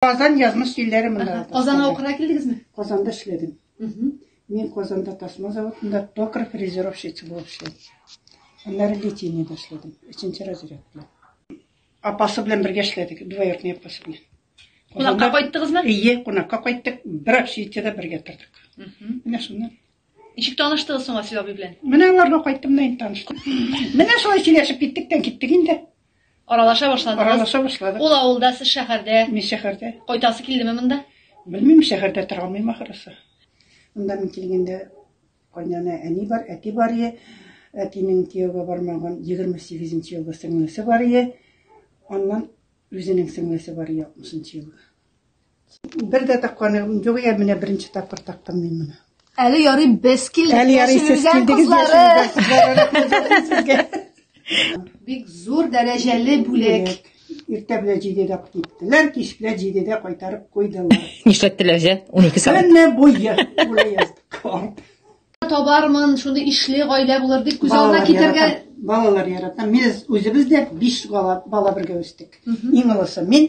Казан язмыш җилләре монда. Ага. Казанга укырга килдегезме? Казанда эшләдем. Угу. Мин Казанда тасма заводында токар фрезеровщица булып эшләдем. Аннары литейный башладым. Өченче разряд белән. Апасы белән бергә эшләдек, двоюродный апасы белән. Кунакка кайттыгызмы? Ие, кунакка кайттык. Бер общежитиедә бергә тордык. Менә шуннан. Ничек таныштыгыз соң Асил абый белән? Менә аларга кайттым да инде таныштым. Менә шулай сөйләшеп киттек тә киттек инде. Аралаша башладыгыз. Аралаша башладык. Ул авылда, сез шәһәрдә. Мин шәһәрдә. Кайтасы килдеме монда? Белмим, шәһәрдә тора алмыйм ахрысы. Монда мин килгәндә кайнана әни бар, әти бар е. Әтинең кияүгә бармаган 28 нче елгы сеңлесе бар е. Аннан үзенең сеңлесе бар е 60 нчы елгы. Бер дә такканы юк икән, менә беренче тапкыр тактым мин моны. Әле ярый без килдек. Әле ярый сез яшерелгән килдегез кызлары. Бик зур дәрәҗәле бүләк. Иртә белән җидедә киттеләр, кич белән җидедә кайтарып куйдылар. Нишләттеләр җә? 12 сәгать. Көнне буе бүләк яздык. Карт. Табармын, шуны ишле гаилә булыр дип күз алдына Балалар китергә. ярата. Балалар ярата. Без үзебез дә биш бала, бала бергә үстек. Иң олысы мин,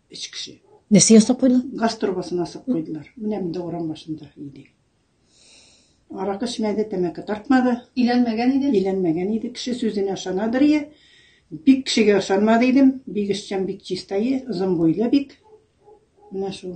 Өч кеше. Нәрсә ясап куйдылар? Газ торбасын асып куйдылар. Менә монда урам башында иде. Аракы эчмәде, тәмәке тартмады. Иләнмәгән иде? Иләнмәгән иде. Кеше сүзенә ышанадыр ие. Бик кешегә ышанмады идем. Бик эшчән, бик чистае, озын буйлы бик. Менә шул.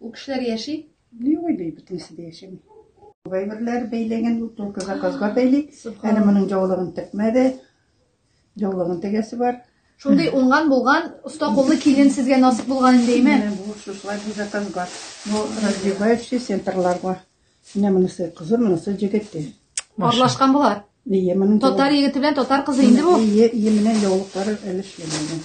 Ул кешеләр яши? Ни уйлый, бөтенесе дә яшәми. Кайберләр бәйләгән, ул только заказга бәйли. Әле моның җаулыгын текмәде. Җаулыгын тегәсе бар. Шундый уңган булган, оста куллы килен сезгә насып булган инде, әйме? Менә бу шушылай бу заказга. Бу развивающий центрларга. Менә монысы кызы, монысы җегете. Парлашкан болар. Ие, моның Татар егете белән татар кызы инде бу. Ие, ие, менә яулыклары әле эшләмәгән.